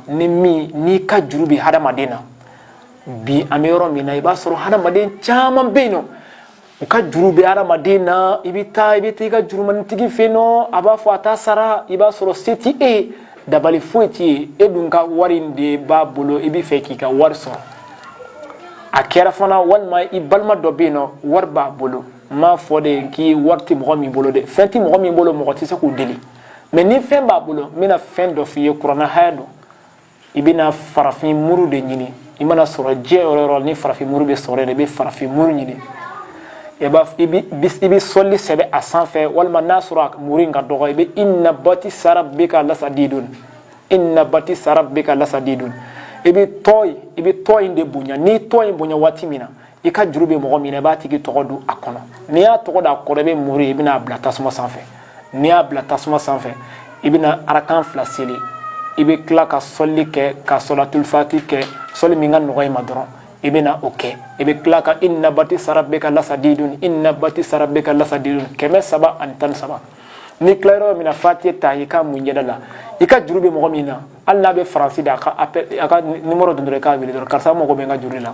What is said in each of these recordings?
ni min n'i ka juru bɛ hadamaden na bi an bɛ yɔrɔ min na i b'a sɔrɔ hadamaden caman bɛ yen nɔ u ka juru bɛ hadamaden na i bɛ taa i bɛ taa i ka jurumantigi fɛ yen nɔ a b'a fɔ a t'a sara i b'a sɔrɔ se t'i ye dabali foyi t'i ye e dun ka wari in de b'a bolo i b'a fɛ k'i ka wari sɔrɔ a kɛra fana walima i balima dɔ bɛ yen nɔ wari b'a bolo n m'a fɔ dɛ ko wari tɛ mɔgɔ min bolo dɛ fɛn tɛ mɔgɔ min bolo mɔgɔ tɛ se k'o deli mɛ ni fɛn b'a bolo n bɛna fɛn dɔ f'i ye kuranɛ haya don i bɛna farafin muru de ɲini i mana sɔrɔ diɲɛ yɔrɔ o yɔrɔ ni farafin muru bɛ sɔrɔ de i bɛ farafin muru ɲini i b'a i bɛ i bɛ sɔli sɛbɛn a sanfɛ walima n'a sɔrɔ a muru in ka dɔgɔ i bɛ inna batisa rabika lasadidun inna batisa rabika lasadidun i bɛ tɔ in i bɛ tɔ in de bonya n'i tɔ in bonya waati min na i ka juru bɛ mɔgɔ min na i b'a tigi tɔgɔ don a kɔnɔ n'i y'a tɔgɔ don a kɔnɔ i bɛ muru ye i bɛna a bila tasuma sanfɛ n'i y'a bila tasuma sanfɛ i bɛna arakan fila seli i bɛ tila ka sɔli kɛ ka sɔlatulifati kɛ sɔli min ka nɔgɔ i ma dɔrɔn i bɛna o kɛ i bɛ tila ka inna batisa rabika lasadidun inna batisa rabika lasadidun kɛmɛ saba ani tan ni saba n'i tila yɔrɔ min na fati ta i ka mun yɛrɛ la i ka juru bɛ mɔgɔ min na hali n'a bɛ faransi da a ka a ka nimoro don dɔrɔn i k'a wele dɔrɔn karisa n mako bɛ n ka juru la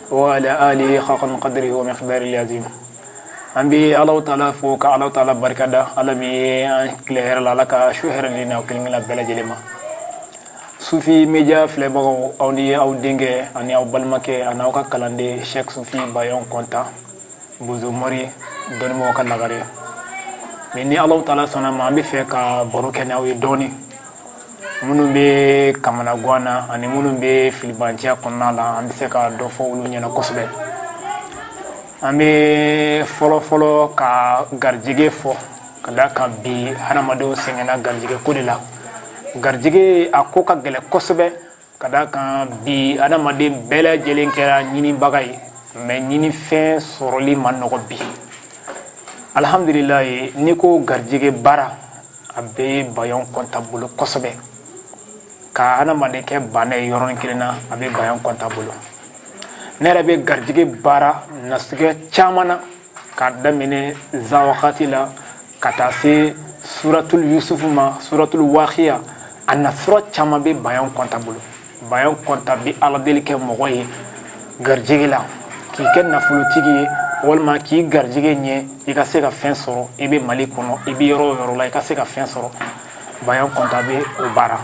wa ala alihi haqqa qadrihi wa miqdarihi azim an bɛ alahu taala fo ka alahu taala barika da ala min ye an tile hɛrɛ la ala ka su hɛrɛ ni an kelen kelen bɛɛ lajɛlen ma sufi media filɛbagaw aw ni aw denkɛ ani aw balimakɛ ani aw ka kalanden sɛk sufi bayan kɔnta bozo mori dɔnnibagaw ka lagare mɛ ni alahu taala sɔnn'a ma an b'a fɛ ka baro kɛ ni aw ye dɔɔnin minnu bɛ kamanagan na ani minnu bɛ filibanciya kɔnɔna la an bɛ se ka dɔ fɔ olu ɲɛna kosɛbɛ an bɛ fɔlɔfɔlɔ ka garijɛgɛ fɔ ka da kan bi hadamadenw sɛgɛnna garijɛgɛ ko de la garijɛgɛ a ko ka gɛlɛn kosɛbɛ Ka da kan bi adamaden bɛɛ lajɛlen kɛra ɲinibaga ye mɛ ɲinifɛn sɔrɔli ma nɔgɔ bi alihamdulilayi n'i ko garijɛgɛ baara a bɛ bayan kɔnta bolo kosɛbɛ ka adamaden kɛ baana ye yɔrɔnin kelen na a bɛ bayan kɔnta bolo ne yɛrɛ bɛ garijɛgɛ baara nasugu caman na k'a daminɛ iza wakati la ka taa se suratul yusufu ma suratul wakiya a na sura caman bɛ bayan kɔnta bolo bayan kɔnta bɛ ala deli kɛ mɔgɔ ye garijɛgɛ la k'i kɛ nafolotigi ye walima k'i garijɛgɛ ɲɛ i ka se ka fɛn sɔrɔ i bɛ mali kɔnɔ i bɛ yɔrɔ o yɔrɔ la i ka se ka fɛn sɔrɔ bayan kɔnta bɛ o baara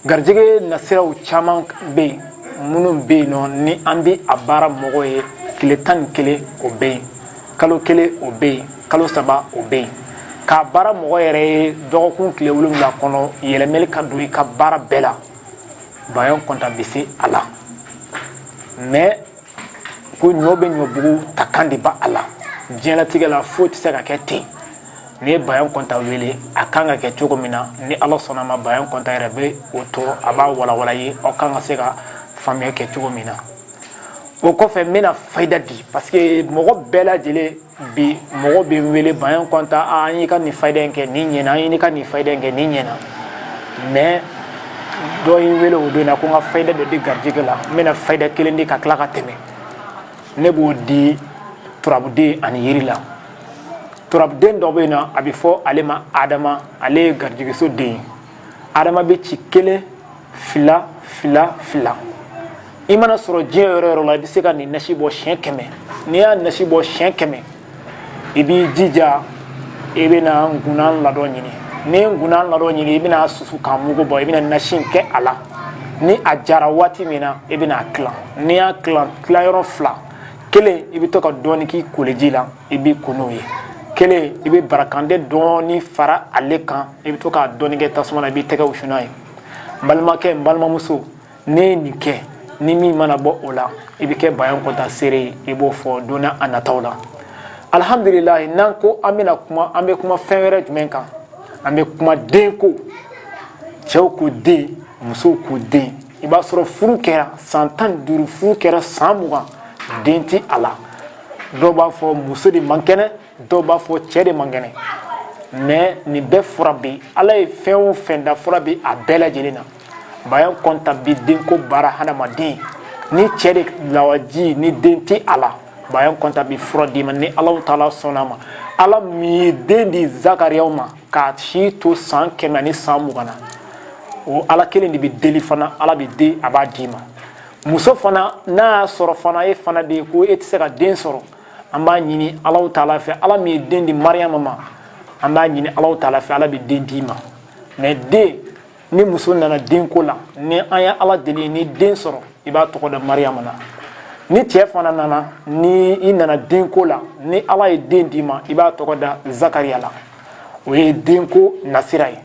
garijɛgɛ nasiraw caman bɛ yen minnu bɛ yen nɔ ni an bɛ a baara mɔgɔ ye tile tan ni kelen o bɛ yen kalo kelen o bɛ yen kalo saba o bɛ yen k'a baara mɔgɔ yɛrɛ ye dɔgɔkun tile wolonwula kɔnɔ yɛlɛmɛli ka don i ka baara bɛɛ la bayan kɔntan bɛ se a la mɛ ko ɲɔ bɛ ɲɔbugu ta kan de b'a la diɲɛlatigɛ la foyi tɛ se ka kɛ ten N'i ye bayan kɔntan wele a kan ka kɛ cogo min na ni ala sɔnna a ma bayan kɔntan yɛrɛ bɛ o to a b'a walawala aw kan ka se ka faamuya kɛ cogo min na o kɔfɛ n bɛna fada di parce que mɔgɔ bɛɛ lajɛlen bi mɔgɔ bɛ wele bayan kɔntan an y'i ka nin fada in kɛ nin ɲɛna an y'i ka nin fada in kɛ nin ɲɛna mɛ dɔ y' wele o don na ko n ka fada dɔ di garijɛgɛ la n bɛna fada kelen di ka tila ka tɛmɛ ne b'o di turabuden ani yiri la turabuden dɔ bɛ yen na a bɛ fɔ ale ma hadama ale ye garijɛgɛso den ye hadama bɛ ci kelen fila fila fila i mana sɔrɔ diɲɛ yɔrɔ yɔrɔ la i bɛ se ka nin nasi bɔ siyɛn kɛmɛ n'i y'a nasi bɔ siyɛn kɛmɛ i b'i jija i bɛna nkunan ladɔn ɲini n'i nkunan ladɔn ɲini i bɛna susu k'a mugu bɔ i bɛna nasi kɛ a la ni a jara waati min na i bɛna a tila n'i y'a tila tilayɔrɔ fila kelen i bɛ to k'a dɔɔni k'i koliji la i b'i ko n'o ye kelen i bɛ barakande dɔɔni fara ale kan i bɛ to k'a dɔɔni kɛ tasuma na i b'i tɛgɛ wusu n'a ye n balimakɛ n balimamuso n'e ye nin kɛ ni min mana bɔ o la i bɛ kɛ bayan kɔntan seere ye i b'o fɔ don nataw la alihamdulilayi n'an ko an bɛna kuma an bɛ kuma fɛn wɛrɛ jumɛn kan an bɛ kuma den ko cɛw ko den musow ko den i b'a sɔrɔ furu kɛra san tan ni duuru furu kɛra san mugan den tɛ a la dɔw b'a fɔ muso de man kɛnɛ dɔw b'a fɔ cɛ de man kɛnɛ mɛ nin bɛɛ fura bɛ ala ye fɛn o fɛn da fura bɛ a bɛɛ lajɛlen na bayan kɔntan bi denko baara hadamaden ni cɛ de lawaji ni den tɛ a la bayan kɔntan bi fura d'i ma ni ala taala sɔnna a ma ala min ye den di zakariya ma k'a si to san kɛmɛ ni san mugan na o ala kelen de bɛ deli fana ala bɛ den a b'a d'i ma muso fana n'a y'a sɔrɔ fana e fana bɛ yen ko e tɛ se ka den sɔrɔ an b'a ɲini alawu taala fɛ ala min ye den di mariama ma an b'a ɲini alawu taala fɛ ala bɛ den d'i ma mɛ den ni muso nana den ko la ni an ye ala deli ni den sɔrɔ i b'a tɔgɔ da mariyama na ni cɛ fana nana ni i nana den ko la ni ala ye den d'i ma i b'a tɔgɔ da zakariya la o ye den ko nasira ye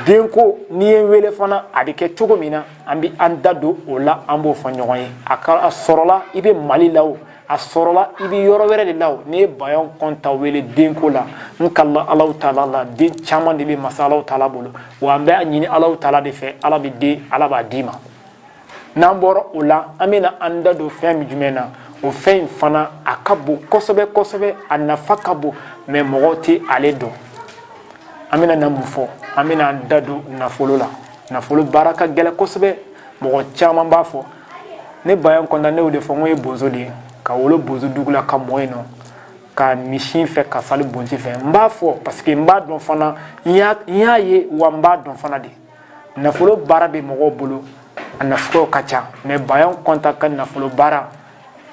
den ko n'i ye wele fana a bɛ kɛ cogo min na an bɛ an da don o la an b'o fɔ ɲɔgɔn ye a sɔrɔla i bɛ mali la wo a sɔrɔla i bɛ yɔrɔ wɛrɛ de la o n'i ye bayan kɔnta wele denko la n kalila alahu taala la den caman de bɛ masa alahu taala bolo wa an bɛ a ɲini alahu taala de fɛ ala bɛ den ala b'a d'i ma n'an bɔra o la an bɛna an da don fɛn min jumɛn na o fɛn in fana a ka bon kosɛbɛ kosɛbɛ a nafa ka bon mɛ mɔgɔw tɛ ale dɔn an bɛna na mun fɔ an bɛna an da don nafolo la nafolo baara ka gɛlɛn kosɛbɛ mɔgɔ caman b'a fɔ ne bayan kɔnta ne y'o de fɔ n ko n ye bozo de ye ka wolo bozo dugu la ka mɔ yen nɔ ka misi fɛ ka fali bonti fɛ n b'a fɔ parce que n b'a dɔn fana n y'a ye wa n b'a dɔn fana de nafolo baara bɛ mɔgɔw bolo a nafolow ka ca mɛ bayan kɔnta ka nafolo baara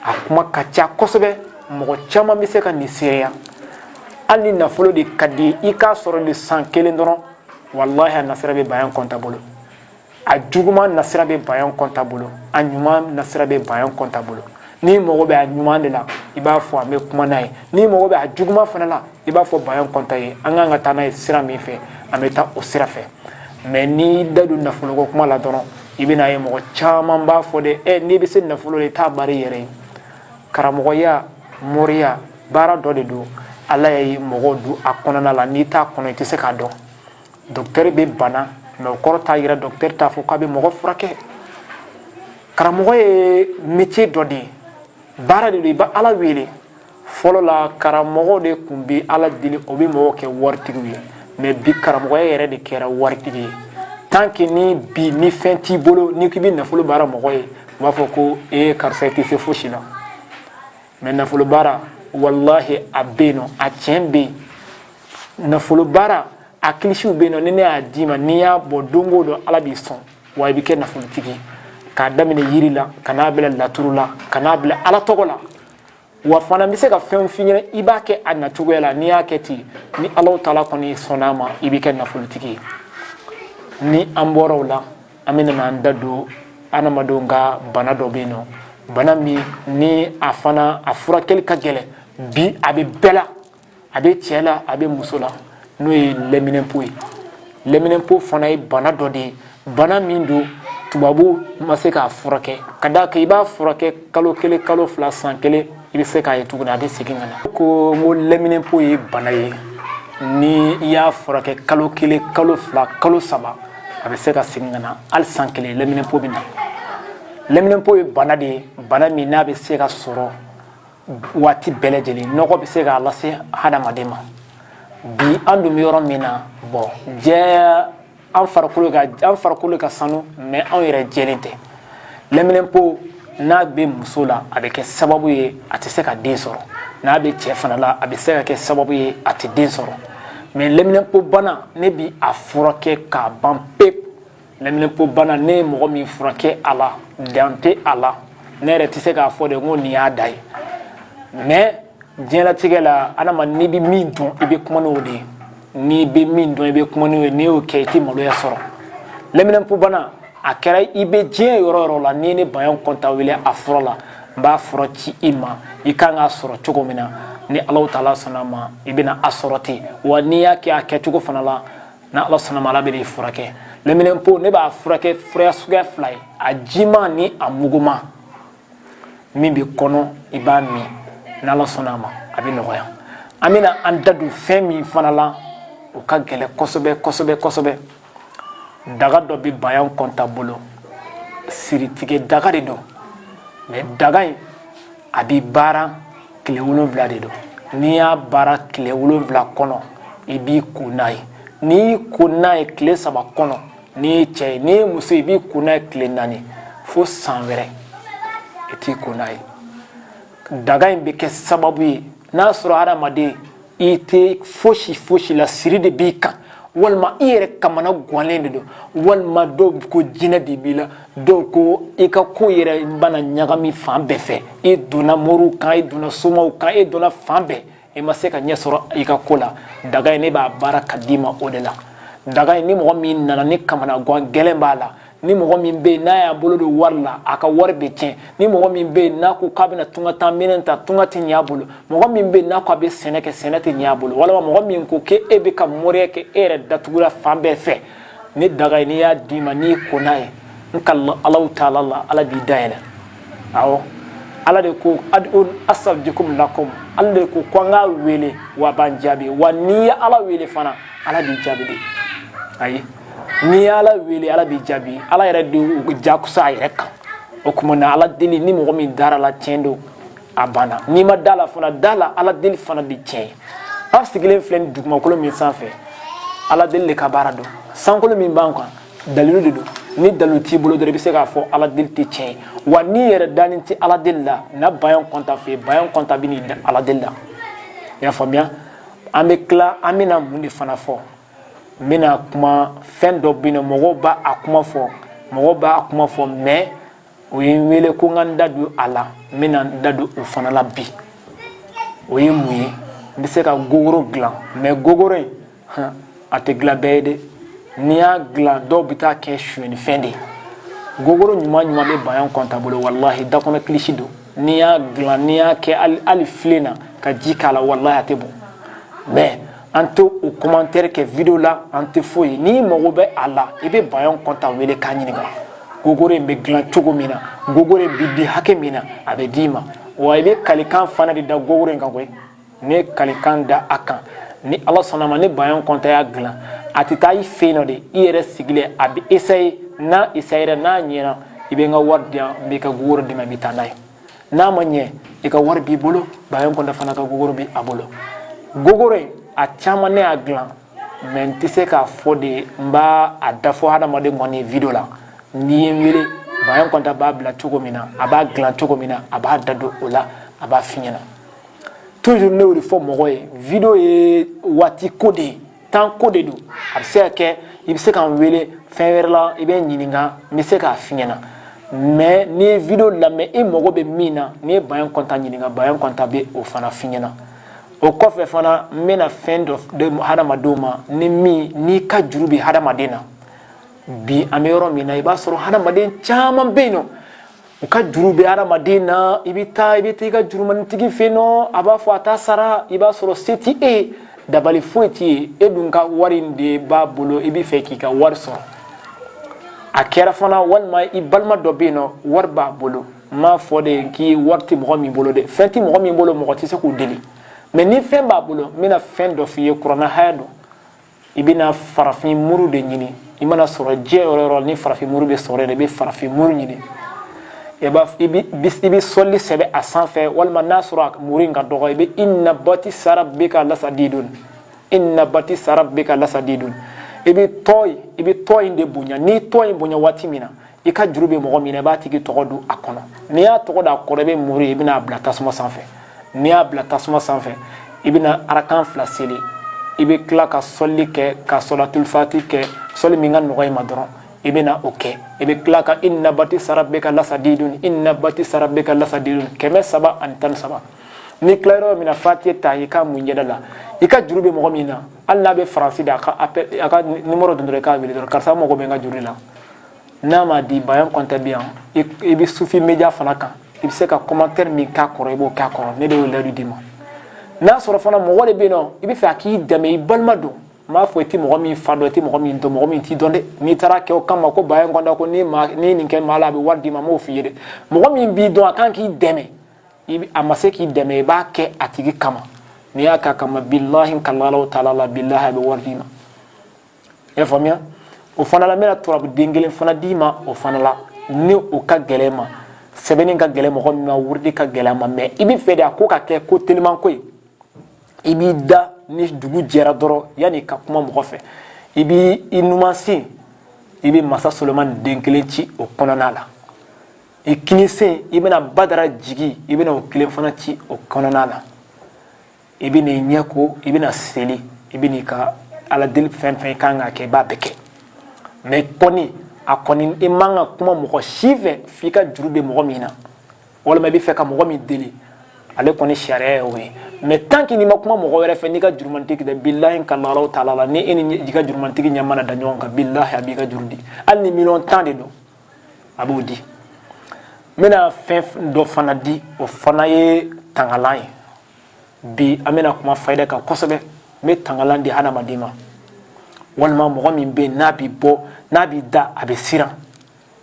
a kuma ka ca kosɛbɛ mɔgɔ caman bɛ se ka nin seereya hali ni nafolo de ka di i k'a sɔrɔ nin san kelen dɔrɔn walahi a nasira bɛ bayan kɔnta bolo a juguman nasira bɛ bayan kɔnta bolo a ɲuman nasira bɛ bayan kɔnta bolo n'i mago bɛ a ɲuman de la i b'a fɔ an bɛ kuma n'a ye n'i mago bɛ a juguman fana la i b'a fɔ bayan kɔnta ye an kan ka taa n'a ye sira min fɛ an bɛ taa o sira fɛ mɛ n'i da don nafoloko kuma la dɔrɔn i bɛna ye mɔgɔ caman b'a fɔ de ɛ n'i bɛ se nafolo la i t'a baara i yɛrɛ ye karamɔgɔya moriya baara dɔ de don ala ye mɔgɔw don a kɔnɔna la n'i t'a kɔnɔ i tɛ se k'a dɔn dɔkitɛri bɛ bana mɛ o kɔrɔ t'a yɛrɛ dɔkitɛri t'a fɔ k'a bɛ mɔgɔ furakɛ karamɔgɔ ye métier dɔ de ye baara de don i bɛ ala wele fɔlɔ la karamɔgɔ de tun bɛ ala deli o bɛ mɔgɔw kɛ waritigiw ye mɛ bi karamɔgɔya yɛrɛ de kɛra waritigi ye tant que ni bi ni fɛn t'i bolo n'i k'i bɛ nafolo baara mɔgɔ ye u b'a fɔ ko ee karisa i tɛ se fosi la mɛ nafolo baara walahi a bɛ yen nɔ a tiɲɛ bɛ yen nafolo baara a kilisiw bɛ yen nɔ ni ne y'a d'i ma n'i y'a bɔ don o don ala b'i sɔn wa i bɛ kɛ nafolotigi ye k'a daminɛ yiri la ka n'a bila laturu la ka n'a bila ala tɔgɔ la wa fana bɛ se ka fɛn f'i ɲɛna i b'a kɛ a nacogoya la n'i y'a kɛ ten ni alahu taala kɔni sɔnn'a ma i bɛ kɛ nafolotigi ye ni an bɔra o la an bɛ na an da don adamadenw ka bana dɔ bɛ yen nɔ bana min ni a fana a furakɛli ka gɛlɛn bi a bɛ bɛɛ la a bɛ cɛ la a bɛ muso la n'o ye lɛminɛnpo ye lɛminɛnpo fana ye bana dɔ de ye bana min don tubabu ma se k'a furakɛ ka d'a kan i b'a furakɛ kalo kelen kalo fila san kelen i bɛ se k'a ye tuguni a bɛ segin ka na ko n ko lɛminɛnpo ye bana ye ni i y'a furakɛ kalo kelen kalo fila kalo saba a bɛ se ka segin ka na hali san kelen lɛminɛnpo bɛ na lɛminɛnpo ye bana de ye bana min n'a bɛ se ka sɔrɔ waati bɛɛ lajɛlen nɔgɔ bɛ se k'a lase hadamaden ma bi an dun bɛ yɔrɔ min na bɔn jɛya an farikolo ka an farikolo ka sanu mɛ anw yɛrɛ jɛlen tɛ lɛminɛnpo n'a bɛ muso la a bɛ kɛ sababu ye a tɛ se ka den sɔrɔ n'a bɛ cɛ fana la a bɛ se ka kɛ sababu ye a tɛ den sɔrɔ mɛ lɛminɛnpo bana ne bi a furakɛ k'a ban pewu lɛminɛnpo bana ne ye mɔgɔ min furakɛ a la dan tɛ a la ne yɛrɛ tɛ se k'a fɔ de ko nin y'a da ye mɛ diɲɛlatigɛ la adama n'i bɛ min dɔn i bɛ kuma n'o de ye n'i bɛ min dɔn i bɛ kuma n'o ye n'i y'o kɛ i tɛ maloya sɔrɔ lɛminɛnpobana a kɛra i bɛ diɲɛ yɔrɔ o yɔrɔ la n'i ye ne bayan kɔnta wele a fɔlɔ la n b'a fura ci i ma i kan k'a sɔrɔ cogo min na ni alaw taala sɔnna a ma i bɛna a sɔrɔ ten wa n'i y'a kɛ a kɛcogo fana la ni ala sɔnna a ma ala bɛn'i furakɛ lɛminɛnpo ne b'a furakɛ fura suguya fila ye a jiman ni a muguman min bɛ kɔnɔ i b'a min n'ala sɔnna a ma a bɛ nɔgɔya an bɛna an da don fɛn min fana la o ka gɛlɛn kosɛbɛ kosɛbɛ kosɛbɛ daga dɔ bɛ bayan kɔnta bolo siritigɛ daga de don mɛ daga in a bɛ baara tile wolonwula de don n'i y'a baara tile wolonwula kɔnɔ i b'i ko n'a ye n'i y'i ko n'a ye tile saba kɔnɔ n'i ye cɛ ye n'i ye muso ye i b'i ko n'a ye tile naani fo san wɛrɛ i t'i ko n'a ye daga in bɛ kɛ sababu ye n'a sɔrɔ hadamaden i tɛ fosi fosi la siri de b'i kan walima i yɛrɛ kamana gannen de don walima dɔw ko jinɛ de b'i la dɔw ko i ka ko yɛrɛ bana ɲagami fan bɛɛ fɛ i donna moriw kan i donna somaw kan i donna fan bɛɛ i ma se ka ɲɛ sɔrɔ i ka ko la daga in ne b'a baara ka d'i ma o de la daga in ni mɔgɔ min nana ni kamana gan gɛlɛn b'a la ni mɔgɔ min bɛ yen n'a y'a bolo don wari la a ka wari bɛ tiɲɛ ni mɔgɔ min bɛ yen n'a ko k'a bɛna tunga taa minɛn ta tunga tɛ ɲɛ a bolo mɔgɔ min bɛ yen n'a ko a bɛ sɛnɛ kɛ sɛnɛ tɛ ɲɛ a bolo walima mɔgɔ min ko k'e e bɛ ka moriya kɛ e yɛrɛ datugula fan bɛɛ fɛ ni daga in ne y'a d'i ma n'i ko n'a ye n ka alaw taala la ala b'i dayɛlɛ aw ala de ko asabijikomi lakomi ala de ko ko an k'a wele w'a b'an jaabi wa n'i ye ala wele fana ala b'i jaabi de ayi n'i ye ala wele ala b'i jaabi ala yɛrɛ de y'o jakuya a yɛrɛ kan o tuma na ala deli ni mɔgɔ min dara a la tiɲɛ don a banna n'i ma da a la fana da a la ala deli fana bɛ tiɲɛ ye an sigilen filɛ nin dugumakolo min sanfɛ ala deli de ka baara don sankolo min b'an kan dalilu de don ni dalilu t'i bolo dɔrɔn i bɛ se k'a fɔ ala deli tɛ tiɲɛ ye wa n'i yɛrɛ dalen tɛ ala deli la na bayan kɔnta fɛ yen bayan kɔnta bɛn'i da ala deli la i y'a faamuya an bɛ tila an bɛna mun de fana fɔ n bɛna kuma fɛn dɔ bɛ yen ni mɔgɔw b'a kuma fɔ mɔgɔw b'a kuma fɔ mɛ o ye n wele ko n ka n da don a la n bɛna n da don o fana la bi o ye mun ye n bɛ se ka gogoro dilan mɛ gogoro in a tɛ dilan bɛɛ ye dɛ n'i y'a dilan dɔw bɛ taa kɛ sonyɛnifɛn de ye gogoro ɲuman ɲuman bɛ bayan kɔnta bolo walahi dakɔnɔ kilisi don n'i y'a dilan n'i y'a kɛ hali filen na ka ji k'a la walahi a tɛ bɔn mɛ an tɛ o commentaire kɛ video la an tɛ foyi ye n'i mago bɛ a la i bɛ bayan kɔnta wele k'a ɲininka gogoro in bɛ dilan cogo min na gogoro in bɛ di hakɛ min na a bɛ d'i ma wa i bɛ kalikan fana de da gogoro in kan koyi ne kalikan da a kan ni ala sɔnna ma ni bayan kɔnta y'a dilan a tɛ taa i fɛ yen nɔ dɛ i yɛrɛ sigilen a bɛ essayer n'a essayera n'a ɲɛna i bɛ n ka wari di yan n b'i ka gogoro d'i ma i bɛ taa n'a ye n'a ma ɲɛ i ka wari b'i bolo bayan kɔnta fana ka gogoro bɛ a bolo gogoro a caman ne y'a dilan mɛ n tɛ se k'a fɔ dɛ n b'a dafɔ hadamaden kɔni video la n'i ye n wele bayan kɔnta b'a bila cogo min na a b'a dilan cogo min na a b'a da don o la a b'a f'i ɲɛna toujours ne y'o de fɔ mɔgɔ ye video ye waati ko de ye temps ko de don a bɛ se ka kɛ i bɛ se ka n wele fɛn wɛrɛ la i bɛ n ɲininka n bɛ se k'a f'i ɲɛna mɛ n'i ye video lamɛn i mago bɛ min na n'i ye bayan kɔnta ɲininka bayan kɔnta bɛ o fana f'i ɲɛna o kɔfɛ fana n bɛna fɛn dɔ di hadamadenw ma ni min n'i ka juru bɛ hadamaden na bi an bɛ yɔrɔ min na i b'a sɔrɔ hadamaden caman bɛ yen nɔ u ka juru bɛ adamaden na i bɛ taa i bɛ taa i ka jurumanitigi fɛ yen nɔ a b'a fɔ a t'a sara i b'a sɔrɔ se tɛ e ye dabali foyi t'i ye e dun ka wari in de b'a bolo i bɛ fɛ k'i ka wari sɔrɔ a kɛra fana walima i balima dɔ bɛ yen nɔ wari b'a bolo n m'a fɔ dɛ ko wari tɛ mɔgɔ min bolo dɛ fɛn tɛ mɔgɔ min bolo mɔgɔ tɛ se k'o deli mɛ ni fɛn b'a bolo n bɛna fɛn dɔ f'i ye kurana haya don i bɛna farafin muru de ɲini i mana sɔrɔ diɲɛ yɔrɔ yɔrɔ ni farafin muru bɛ sɔrɔ yɛrɛ i bɛ farafin muru ɲini i b'a i bɛ i bɛ sɔli sɛbɛn a sanfɛ walima n'a sɔrɔ a muru in ka dɔgɔ i bɛ inna batisa rabika lasadidun inna batisa rabika lasadidun i bɛ tɔ i bɛ tɔ in de bonya n'i tɔ in bonya waati min na i ka juru bɛ mɔgɔ min na i b'a tigi tɔgɔ don a kɔnɔ n'i y'a tɔgɔ don a kɔnɔ i bɛ muru in i bɛna a bila tasuma sanfɛ n'i y'a bila tasuma sanfɛ i bɛna arakan fila seli i bɛ tila ka sɔli kɛ ka sɔlatulifati kɛ sɔli min ka nɔgɔ i ma dɔrɔn i bɛna o kɛ i bɛ tila ka inna batisa rabika lasadidun inna batisa rabika lasadidun kɛmɛ saba ani tan ni saba n'i tilala yɔrɔ min na fatiya ta i k'a mun i ɲɛda la i ka juru bɛ mɔgɔ min na hali n'a bɛ faransi dɛ a ka a ka nimoro don dɔrɔn i k'a wele dɔrɔn karisa n mago bɛ n ka juru la n'a ma di bayan kɔntɛ bɛ yan i bɛ sufi media fana kan i bɛ se ka commentaire min k'a kɔrɔ i b'o k'a kɔrɔ ne de y'o layidu d'i ma n'a sɔrɔ fana mɔgɔ de bɛ yen nɔ i bɛ fɛ a k'i dɛmɛ i balima don n b'a fɔ i tɛ mɔgɔ min fa dɔn i tɛ mɔgɔ min dɔn mɔgɔ min t'i dɔn dɛ n'i taara kɛ o kama ko bayan kɔntɛ ko n'i ma n'i nin kɛ maa la a bɛ wari d'i ma n m'o f'i ye dɛ mɔgɔ min b'i dɔn a kan k'i dɛmɛ i bɛ a ma se k'i dɛmɛ i b'a kɛ a tigi kama n'i y'a k'a kama bilahi kalalahu taala la bilahi a bɛ wari d'i ma i y'a faamuya o fana la n bɛna turabu den kelen fana d'i ma o fana la ni o ka gɛlɛn ma sɛbɛnni ka gɛlɛn mɔgɔ min ma wurudi ka gɛlɛn ma mɛ i bɛ fɛ de a ko ka kɛ ko teliman ko ye i b'i da ni dugu jɛra dɔrɔn yanni ka kuma mɔgɔ fɛ i b'i numan sen i bɛ masa solomani den kelen ci o kɔnɔna la i kinin sen i bɛna badara jigin i bɛna o kelen fana ci o kɔnɔna la i bɛ n'i ɲɛ ko i bɛna seli i bɛ n'i ka ala deli fɛn fɛn i kan k'a kɛ i b'a bɛɛ kɛ mɛ kɔni a kɔni i man ka kuma mɔgɔ si fɛ f'i ka juru bɛ mɔgɔ min na walima i bɛ fɛ ka mɔgɔ min deli ale kɔni sariya ye o ye mɛ tant que n'i ma kuma mɔgɔ wɛrɛ fɛ n'i ka jurumantigi tɛ bilahi kalalahu taala ni e ni i ka jurumantigi ɲɛ mana da ɲɔgɔn kan bilahi a b'i ka juru di hali ni miliyɔn tan de don a b'o di n bɛna fɛn dɔ fana di o fana ye tangalan ye bi an bɛna kuma fayida kan kosɛbɛ n bɛ tangalan di hadamaden ma walima mɔgɔ min bɛ yen n'a bɛ bɔ n'a bɛ da a bɛ siran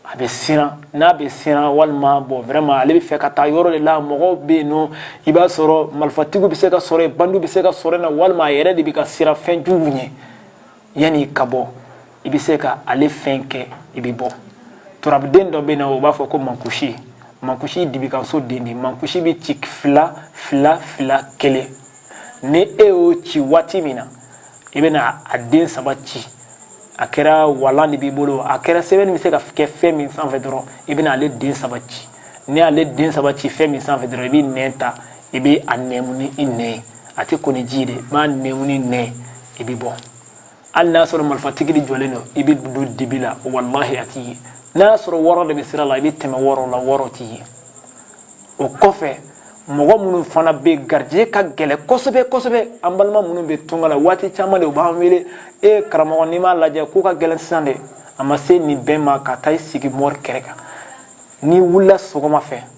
a bɛ siran n'a bɛ siran walima bon vraiment ale bɛ fɛ ka taa yɔrɔ de la mɔgɔw bɛ yen nɔ i b'a sɔrɔ marifatigiw bɛ se ka sɔrɔ yen bandiw bɛ se ka sɔrɔ yen na walima a yɛrɛ de bɛ ka siran fɛn juguw ɲɛ yanni ka bɔ i bɛ se ka ale fɛn kɛ i bɛ bɔ turabuden dɔ bɛ na o b'a fɔ ko mankusi mankusi dibikanso den de mankusi bɛ ci fila fila fila kelen ni e y'o ci waati min na i bɛna a den saba ci a kɛra walan de b'i bolo a kɛra sɛbɛnni bɛ se ka kɛ fɛn min sanfɛ dɔrɔn i bɛna ale den saba ci n'i y'ale den saba ci fɛn min sanfɛ dɔrɔn i bɛ nɛn ta i bɛ a nɛmu ni i nɛn ye a tɛ ko ni ji ye dɛ i b'a nɛmu ni nɛn i bɛ bɔ hali n'a sɔrɔ marifatigi de jɔlen don i bɛ don dibi la walahi a t'i ye n'a sɔrɔ wɔɔrɔ de bɛ sira la i bɛ tɛmɛ wɔɔrɔ la wɔɔrɔ t'i ye o kɔfɛ mɔgɔ minnu fana bɛ yen garijɛgɛ ka gɛlɛn kosɛbɛ kosɛbɛ an balima minnu bɛ tunga la waati caman de u b'an wele e karamɔgɔ n'i m'a lajɛ kow ka gɛlɛn sisan dɛ a ma se nin bɛɛ ma ka taa i sigi mori kɛrɛ kan n'i wulila sɔgɔma fɛ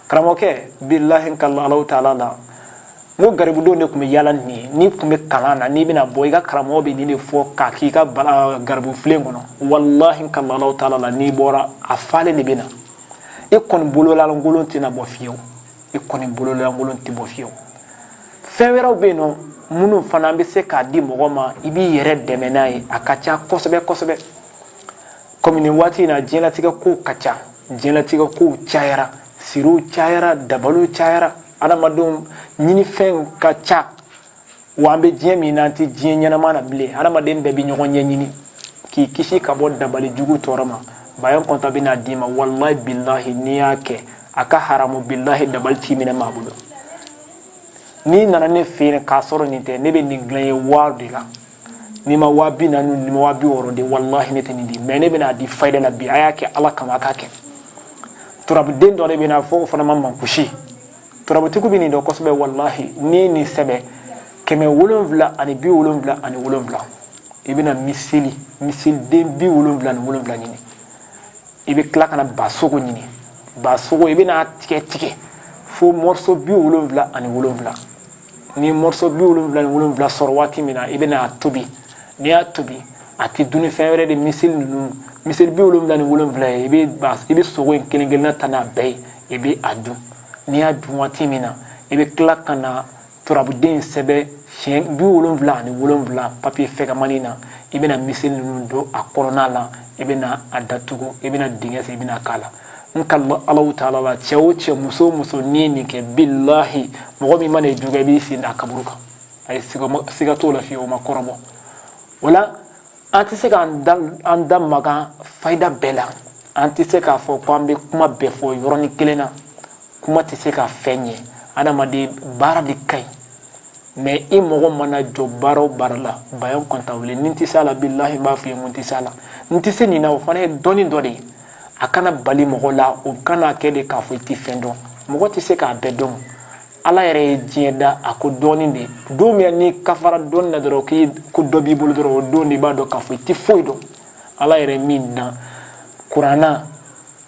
karamɔgɔkɛ bilahi kala alaw taala la n ko garibudenw de tun bɛ yaala nin ye n'i tun bɛ kalan na n'i bɛna bɔ i ka karamɔgɔ bɛ nin de fɔ k'a k'i ka garibu filen kɔnɔ walahi kala alaw taala la n'i bɔra a falen de bɛ na i kɔni bololankolon tɛna bɔ fiyewu i kɔni bololankolon tɛ bɔ fiyewu fɛn wɛrɛw bɛ yen nɔ minnu fana bɛ se k'a di mɔgɔ ma i b'i yɛrɛ dɛmɛ n'a ye a ka ca kosɛbɛ kosɛbɛ kɔmi nin waati in na diɲɛlatigɛ kow ka ca diɲɛlatigɛ kow cayara siriw cayara dabaliw cayara adamadenw ɲinifɛnw ka ca wa an bɛ diɲɛ min na an tɛ diɲɛ ɲɛnama na bilen adamaden bɛɛ bɛ ɲɔgɔn ɲɛɲini k'i kisi ka bɔ dabali jugu tɔɔrɔ ma bayan kɔnta bɛna d'i ma walahi bilahi n'i y'a kɛ a ka haramu bilahi dabali t'i minɛ maa bolo n'i nana ne fɛ yen k'a sɔrɔ nin tɛ ne bɛ nin dilan i ye wari de la n'i ma waa bi naani n'i ma waa bi wɔɔrɔ di walahi ne tɛ nin di mɛ ne bɛn'a di fayida la bi a y'a kɛ ala kama a k'a kɛ turabuden dɔ de bɛ na fɔ o fana ma mankusi turabutigiw bɛ nin dɔn kosɛbɛ walahi n'i ye nin sɛbɛn kɛmɛ wolonwula ani bi wolonwula ani wolonwula i bɛna miseli miseliden bi wolonwula ni wolonwula ɲini i bɛ tila ka na basogo ɲini basogo i bɛna tigɛ tigɛ fo mɔriso bi wolonwula ani wolonwula ni mɔriso bi wolonwula ni wolonwula sɔrɔ waati min na i bɛna a tobi n'i y'a tobi a tɛ dun ni fɛn wɛrɛ ye miseli ninnu miseli bi wolonwula ni wolonwula ye i bɛ ba i bɛ sogo in kelen kelenna ta n'a bɛɛ ye i bɛ a dun n'i y'a dun waati min na i bɛ tila ka na turabuden sɛbɛn siɲɛ bi wolonwula ani wolonwula papiye fɛgɛmani na i bɛna miseli ninnu don a kɔnɔna la i bɛna a datugu i bɛna dingɛ sen i bɛn'a k'a la n ka alaw taala la cɛ o cɛ muso o muso n'i ye nin kɛ bilahi mɔgɔ min mana i jogin i b'i sen da a kaburu kan a ye siga t'o la fiyewu o ma kɔrɔbɔ o la an tɛ se k'an da an da maga fayida bɛɛ la an tɛ se k'a fɔ ko an bɛ kuma bɛɛ fɔ yɔrɔnin kelen na kuma tɛ se ka fɛn ɲɛ adamaden baara de ka ɲi mɛ i mago mana jɔ baara o baara la bayan kɔnta wele ni n tɛ se a la bilahi n b'a f'i ye n ko n tɛ se a la n tɛ se nin na o fana ye dɔnni dɔ de ye a kana bali mɔgɔ la o kana kɛ de k'a fɔ i tɛ fɛn dɔn mɔgɔ tɛ se k'a bɛɛ dɔn ala yɛrɛ ye diɲɛ da a ko dɔɔni de don min n'i ka fara dɔnni na dɔrɔn k'i ko dɔ b'i bolo dɔrɔn o don de i b'a dɔn k'a fɔ i tɛ foyi dɔn ala yɛrɛ min don kuranɛ na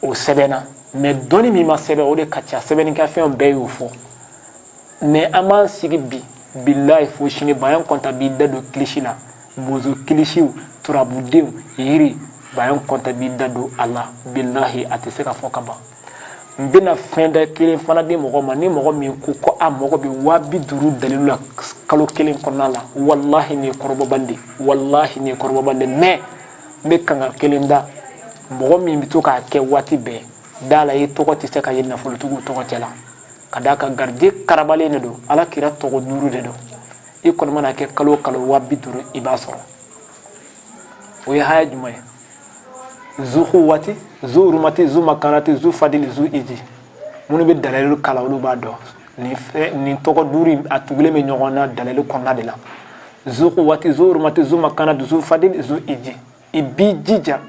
o sɛbɛnna mɛ dɔnni min ma sɛbɛn o de ka ca sɛbɛnnikɛfɛnw bɛɛ y'o fɔ mɛ an b'an sigi bi bilayi fo sini bayan kɔnta b'i da don kilisi la bozo kilisiw turabudenw yiri bayan kɔnta b'i da don a la bilahi a tɛ se ka fɔ ka ban n bɛna fayida kelen fana di mɔgɔ ma ni mɔgɔ min ko ko a mago bɛ waa bi duuru dalilu la kalo kelen kɔnɔna la walahi nin ye kɔrɔbɔban de walahi nin ye kɔrɔbɔban de mais n bɛ kanga kelen da mɔgɔ min bɛ to k'a kɛ waati bɛɛ da la i tɔgɔ tɛ se ka ye nafolotigiw tɔgɔ cɛ la ka d'a kan garijɛgɛ karabalen de don ala kira tɔgɔ duuru de don i kɔni man'a kɛ kalo o kalo waa bi duuru i b'a sɔrɔ o ye haya jumɛn ye zu kuwati zu urumati zu makanati zu fadili zu iji minnu bɛ dalalilu kalan olu b'a dɔn nin fɛn nin tɔgɔ duuru a tugulen bɛ ɲɔgɔn na dalalilu kɔnɔna de la zu kuwati zu urumati zu makanati zu fadili zu iji i b'i jija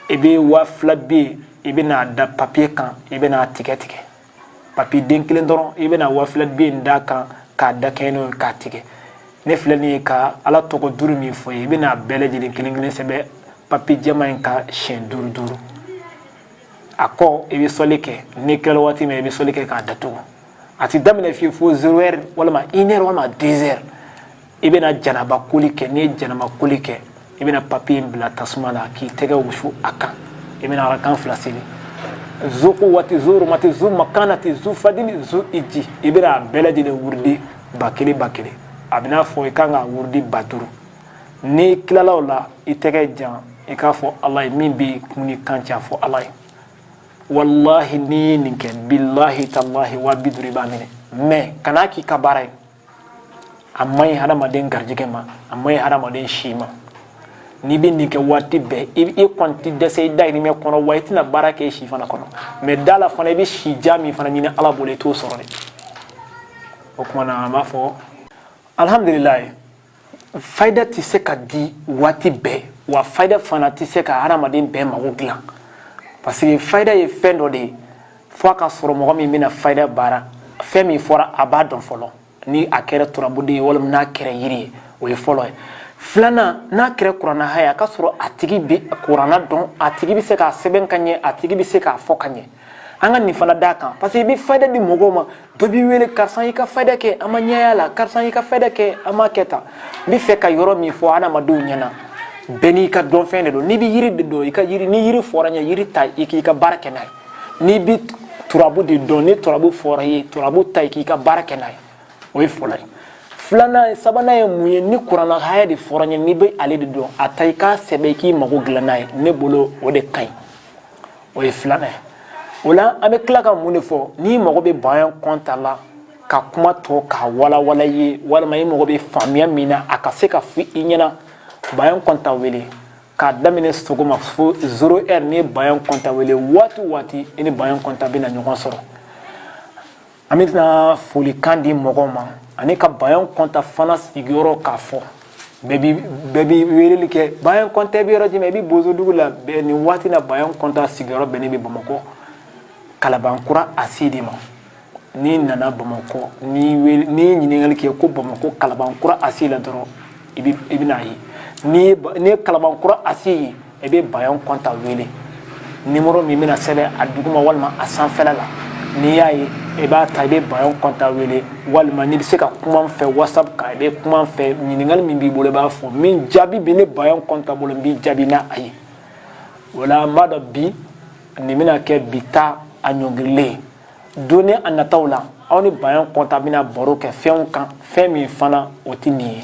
i bɛ waa fila biye i bɛn'a da papiye kan i bɛn'a tigɛ tigɛ papi den kelen dɔrɔn i bɛna waa fila biye in d'a kan k'a da kɛɲɛ n'o ye k'a tigɛ ne filɛ nin ye ka ala tɔgɔ duuru min f'i ye i bɛn'a bɛɛ lajɛlen kelen kelen sɛbɛn papi jɛman in kan siɲɛ duuru duuru a kɔ i bɛ sɔli kɛ n'i tilala waati min i bɛ sɔli kɛ k'a datugu a ti daminɛ fiyewu fo zero heure walima une heure walima deux heures i bɛna janaba koli kɛ n'i ye janaba koli kɛ i bɛna papi in bila tasuma la k'i tɛgɛ wusu a kan i bɛna arakan fila seli zu kuwati zu urumati zu makanati zu fadili zu iji i bɛna a bɛɛ lajɛlen wurudi ba kelen ba kelen a bɛna fɔ i kan ka wurudi ba duuru n'i tilala o la i tɛgɛ jan i k'a fɔ ala ye min bɛ kun ni kan cɛ a fɔ ala ye walahi n'i ye nin kɛ bilahi talahi waa bi duuru i b'a minɛ mais kan'a k'i ka baara ye a man ɲi hadamaden garijɛgɛ ma a man ɲi hadamaden si ma n'i bɛ nin kɛ waati bɛɛ i i kɔni tɛ dɛsɛ i dayirimɛ kɔnɔ wa i tɛna baara kɛ i si fana kɔnɔ mais da la fana i bɛ si jan min fana ɲini ala bolo i t'o sɔrɔ dɛ o tuma na an b'a fɔ alihamdulilayi fayida tɛ se ka di waati bɛɛ wa fayida fana tɛ se ka hadamaden bɛɛ mago dilan parce que fayida ye fɛn dɔ de ye fo a ka sɔrɔ mɔgɔ min bɛna fayida baara fɛn min fɔra a b'a dɔn fɔlɔ ni a kɛra turabuden ye walima n'a kɛra yiri ye o ye fɔlɔ ye filanan n'a kɛra kuranna haya a ka sɔrɔ a tigi bɛ kuranna dɔn a tigi bɛ se k'a sɛbɛn ka ɲɛ a tigi bɛ se k'a fɔ ka ɲɛ an ka nin fana d'a kan parce que i bɛ fayida di mɔgɔw ma dɔ b'i wele karisa y'i ka fayida kɛ an ma ɲɛ y'a la karisa y'i ka fayida kɛ an ma kɛ tan n bɛ fɛ ka yɔrɔ min fɔ adamadenw ɲɛna bɛɛ n'i ka dɔnfɛn de don n'i bɛ yiri de dɔn i ka yiri ni yiri fɔra i ye yiri ta i k'i ka baara kɛ n'a ye n'i bɛ turabu de dɔn ni turabu fɔra i ye turabu ta i k'i ka baara kɛ n'a ye o ye fɔlɔ ye filanan sabanan ye mun ye ni kuranna haya de fɔra i ye n'i bɛ ale de dɔn a ta i k'a sɛbɛn i k'i mago dilan n'a ye ne bolo o de ka ɲi o ye filanan ye o la an bɛ tila ka mun de fɔ n'i mago bɛ bayan kɔnta la ka kuma tɔ k'a walawala i ye walima i mago bɛ faamuya min na a ka se k'a fɔ i ɲɛna bayan kɔnta wele k'a daminɛ sɔgɔma fo zero ɛri n'i ye bayan kɔnta wele waati o waati i ni bayan kɔnta bɛna ɲɔgɔn sɔrɔ an bɛ tila folikan di mɔgɔw ma ani ka bayan kɔnta fana sigiyɔrɔ k'a fɔ bɛɛ bɛ weleli kɛ bayan kɔnta bɛ yɔrɔ jumɛn i bɛ bozodugu la bɛɛ nin waati na bayan kɔnta sigiyɔrɔ bɛnnen bɛ bamakɔ kalabankura ACI de ma n'i nana bamakɔ n'i ye ɲininkali kɛ ko bamakɔ kalabankura ACI la dɔrɔn i bɛna a ye n'i ye kalabankura ACI ye i bɛ bayan kɔnta wele nimɔrɔ bɛna sɛbɛn a duguma walima a sanfɛla la n'i y'a ye i b'a ta i bɛ bayan kɔnta wele walima n'i bɛ se ka kuma n fɛ whatsapp kan i bɛ kuma n fɛ ɲininkali min b'i bolo i b'a fɔ min jaabi bɛ ne bayan kɔnta bolo n b'i jaabi n'a a ye wala n b'a dɔn bi nin bɛna kɛ bi ta a ɲɔngirilen ye don nataw la aw ni bayan kɔnta bɛna baro kɛ fɛnw kan fɛn min fana o tɛ nin ye